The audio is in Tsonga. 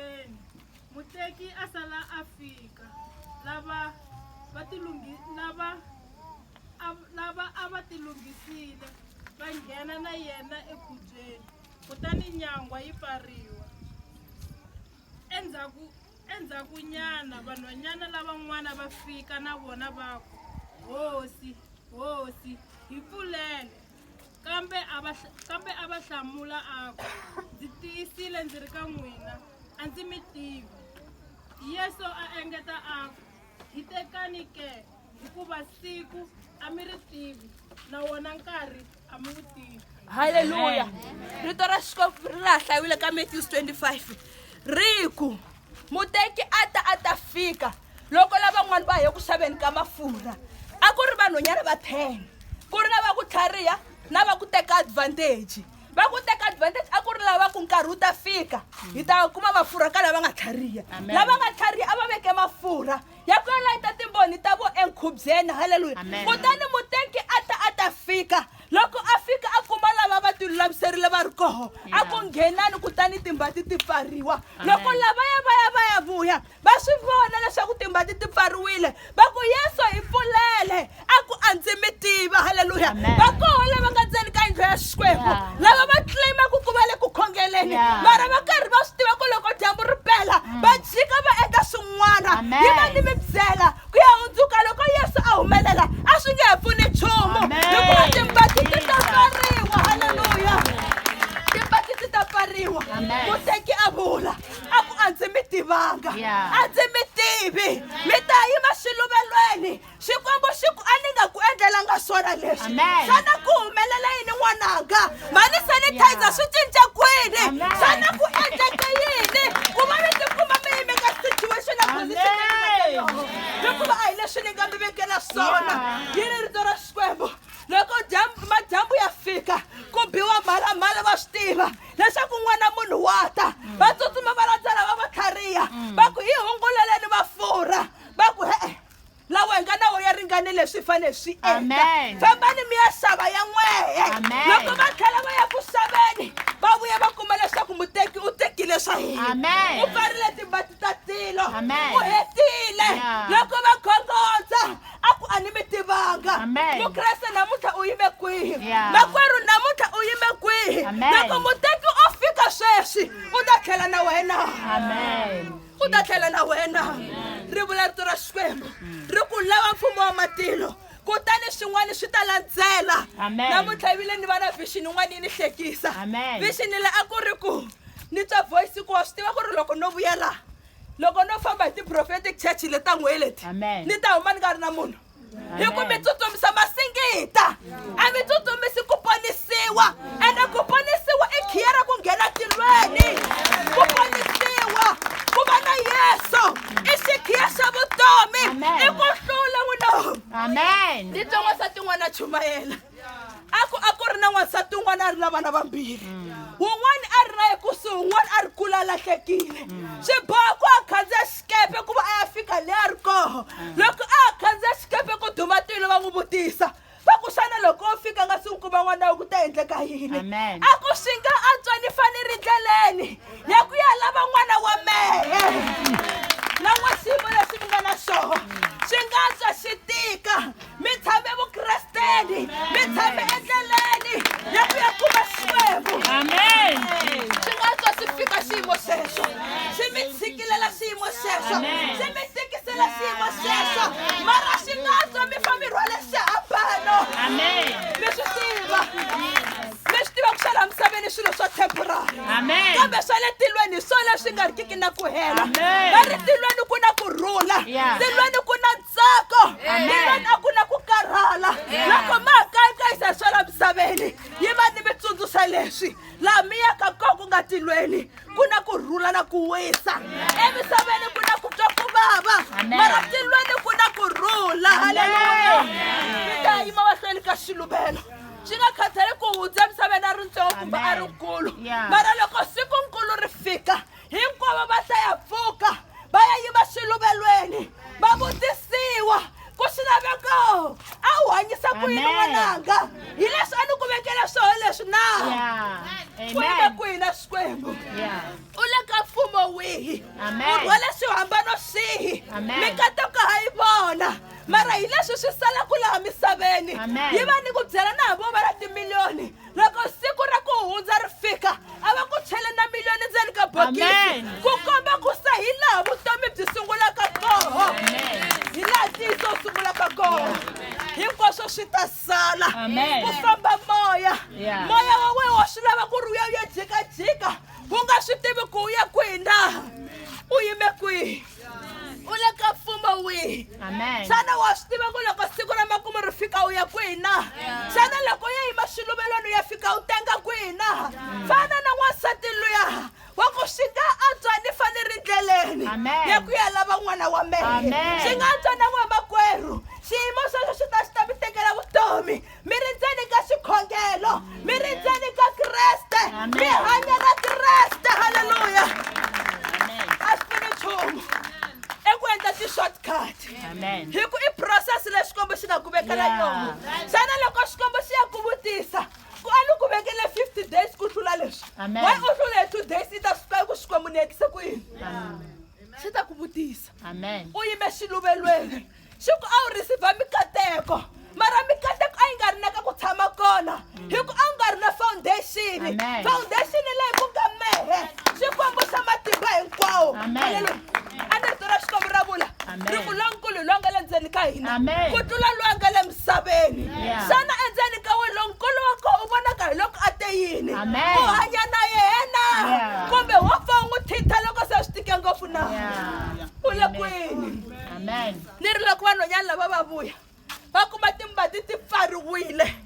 Exikolweni, muteki a sala a fika. Lava va tilunghi, lava a, lava a va tilunghisile va nghena na yena ekhubyeni, kutani nyangwa yi pfariwa. Endzhaku endzhakunyana vanhwanyana lavan'wana va fika na vona va ku, Hosi, Hosi, hi pfulele! kambe a va kambe a va hlamula a ku ndzi tiyisile ndzi ri ka n'wina a ndzi mi tivi yesu a engeta a ku hi tekani ke hikuva siku a mi ri tivi na wona nkarhi a mi wu tivi halleluya rito ra xikwembu ri ra hlayiwile ka matthews 25 ri ku muteki a ta a ta fika loko lavan'wani va ye ku xaveni ka mafurha a ku ri vanhonyana va ten ku ri lava ku tlhariha na va ku teka advantage va ku teka advantage a ku ri lava ku nkarhi wu ta fika hi ta kuma mafurha ka lava nga tlhariha lava nga tlhariha a va veke mafurha ya ku ya layita timboni ta vo enkhubyeni halleluya kutani muteki a ta a ta fika Loko a fika a kuma lava va tilulamiserile va ri koho, a ku nghenani kutani timbati ti pfariwa. Loko lavaya va ya va ya vuya, va swi vona leswaku timbati ti pfariwile, va ku, Yesu, hi pfulele! A ku, A ndzi mi tiva. Haleluya! Va koho lava nga ndzeni ka yindlu ya Xikwembu lava va tleyimaka ku va le ku khongeleni, mara va karhi va swi tiva ku loko dyambu ri pela va jika va endla swin'wana. Yi va ni mi byela ku ya hundzuka loko yesu a humelela a swi nge he pfuni nchumu hikuva timbakiti ta pfariwa halleluya timbakiti ta pfariwa muteki a vula a ku a ndzi mi tivanga a ndzi mi tivi mi ta yima xiluvelweni xikwembu xi ku a ni nga ku endlelanga swona leswi xana ku humelela yini n'wananga mhani sanitizer swi cinca kwini xana ku endleke yini ku va mi tikuma mi yime ka situation ya position hikuva a hi leswi ni nga mi vekela swona yi ri rito ra xikwembu loko dyambu madyambu ya fika ku biwa mhalamhala va swi tiva leswaku n'wana munhu wa ta va tsutsuma va landzela va va tlhariha va ku hi hunguleleni mafurha va ku he-e lawa hi nga na wo ya ringane leswi hi fanele swi endla fambani mi ya xava ya n'wehe loko va tlhela va ya ku xaveni va vuya va kuma leswaku muteki u tekile swa hina u pfarile timbati ta tilo u hetile loko va khongondza a ku a ni mi tivanga mukreste namuntlha u yime kwihi makwerhu namuntlha u yime kwihi loko muteki o fika sweswi u ta tlhela na wena amen ku ta tlhela na wena ri vula rito ra xikwembu ri ku lava mfumo wa matilo kutani swin'wana swi ta landzela namuntlha vile ni va na vixini yin'wana yi ni hlekisa vixini le a ku ri ku ni twa voice ku wa swi tiva ku ri loko no vuya laha loko no famba hi ti-prophetic church le ta n'weleti ni ta huma ni nga ri na munhu hi ku mi tsutsumisa masingita a mi tsutsumisi ku ponisiwa ene ku ponisiwa i khiya ra ku nghena tilweni ku ponisiwa ku va na yesu i xikhiya xa vutomi i ku hlula wunoo amen ni tson'wasa tin'wana chumayela a ku a ku ri na n'wansati un'wana a ri na vana vambirhi un'wana a ri na ye kusuhi un'wana a ri kula a lahlekile swi boha ku a khandziya xikepe ku va a ya fika le a ri koho loko a ha khandziya xikepe ku duma tilo va n'wi vutisa va ku xana loko o fika nga si n'wi kuma n'wana wa ku ta endleka yini Amen. a ku swi nga antswa ni fane ri ndleleni ya ku ya lava n'wana wa mehe lan'wa xiyimo lexi mi nga na xona swi nga antswa xi tika mi tshame vukresteni mi tshame endleleni ya ku ya kuma xikwembu amen swi nga tswa swi fika xiyimo xexo swi mi tshikilela xiyimo xexo swi mi tikisela xiyimo xexo mara xi nga tswa mi fa mi rhwale xihambano amen mi swi tiva mi swi tiva ku xala misaveni swilo swa temporary amen kambe swa le tilweni hi swona swi nga rikiki na ku hela va ri tilweni ku na ku rhula tilweni ku na tsako yi va na ku na ku karhala loko ma ha kayikayisa swa la misaveni yi va ni mitsundzuxa leswi laha mi yaka ko ku nga tilweni ku na ku rhula na ku wisa emisaveni ku na ku twa ku vava mara tilweni ku na ku rhula haleluya mi ta yima mahlweni ka xiluvelo swi nga khathali ku hundza emisaveni a ri ntsongo kumbe a ri nkulu mara loko siku nkulu ri fika hinkwavo va hlaya pfuka va ya yiva swiluvelweni va vutisiwa ku swi laveka a wu hanyisa ku yini Amen. n'wananga hi leswi a ni ku vekela swona leswi na Yeah. ku yime Amen. kwihi na xikwembu Yeah. u le ka mfumo wihi Amen. u rhwele swihambano swihi Amen. mikateko ha yi vona mara hi leswi swi salaku laha misaveni Amen. yi va ni ku byela na hi vo va na timiliyoni loko siku ra ku hundza ri fika a va ku chele na miliyoni ndzeni ka bokisi ku komba ku se hi laha vutomi byi sungulaka koho hi laha ntiyiso wu sungulaka koho hinkwaswo swi ta sala ku famba moya moya wa wena wa swi lava ku ri uya u ya jikajika u nga swi tivi ku u ya kwihi na u yime kwihi u le ka mfumo wihi xana wa swi tiva ku loko siku ra makumu ri fika u ya kwihi na xana loko u ya yima swiluvelweni u ya fika u tenga kwihi na fana na n'wansati luya wa ku swi nga antswa ni fane ri ndleleni ya ku ya lava n'wana wa mehe swi nga antswa na n'wamakwerhu xiyimo sweswo swi ta swi ta mi tekela vutomi mi ri ndzeni ka xikhongelo mi ri ndzeni ka kreste mi hanya na kreste halleluya a swi pfuni nchumu eku endla ti-shortcut hi ku i process leyi xikwembu xi nga ku vekela yona xana loko xikwembu xi ya ku vutisa ku a ni ku vekele 50 days ku hlula leswi wa u hlule hi two days i ta swi tiva ku xikwembu ni yekise ku yini xi ta ku vutisa u yime xiluvelweni xi ku a wu receive mikateko mara mikateko a yi nga ri na ka ku tshama kona hi ku a wu nga ri na foundation Amen. foundation leyi ku nga mehe xikwembu xa matimba hinkwawo Amen. Hallelujah. a ni rito ra xikwembu ra vula Amen. ri ku lonkulu hi loyi a nga le ndzeni ka hina Amen. ku tlula loyi a nga le misaveni Yeah. xana endzeni ka wena lonkulu wa koho u vonaka hi loko a te yini Amen. u hanya na yena Yeah. kumbe wo pfa u n'wi thintha loko se swi tike ngopfu na Yeah. u le kwini ni ri loko vanhwanyana lava va vuya va kuma timbati ti pfariwile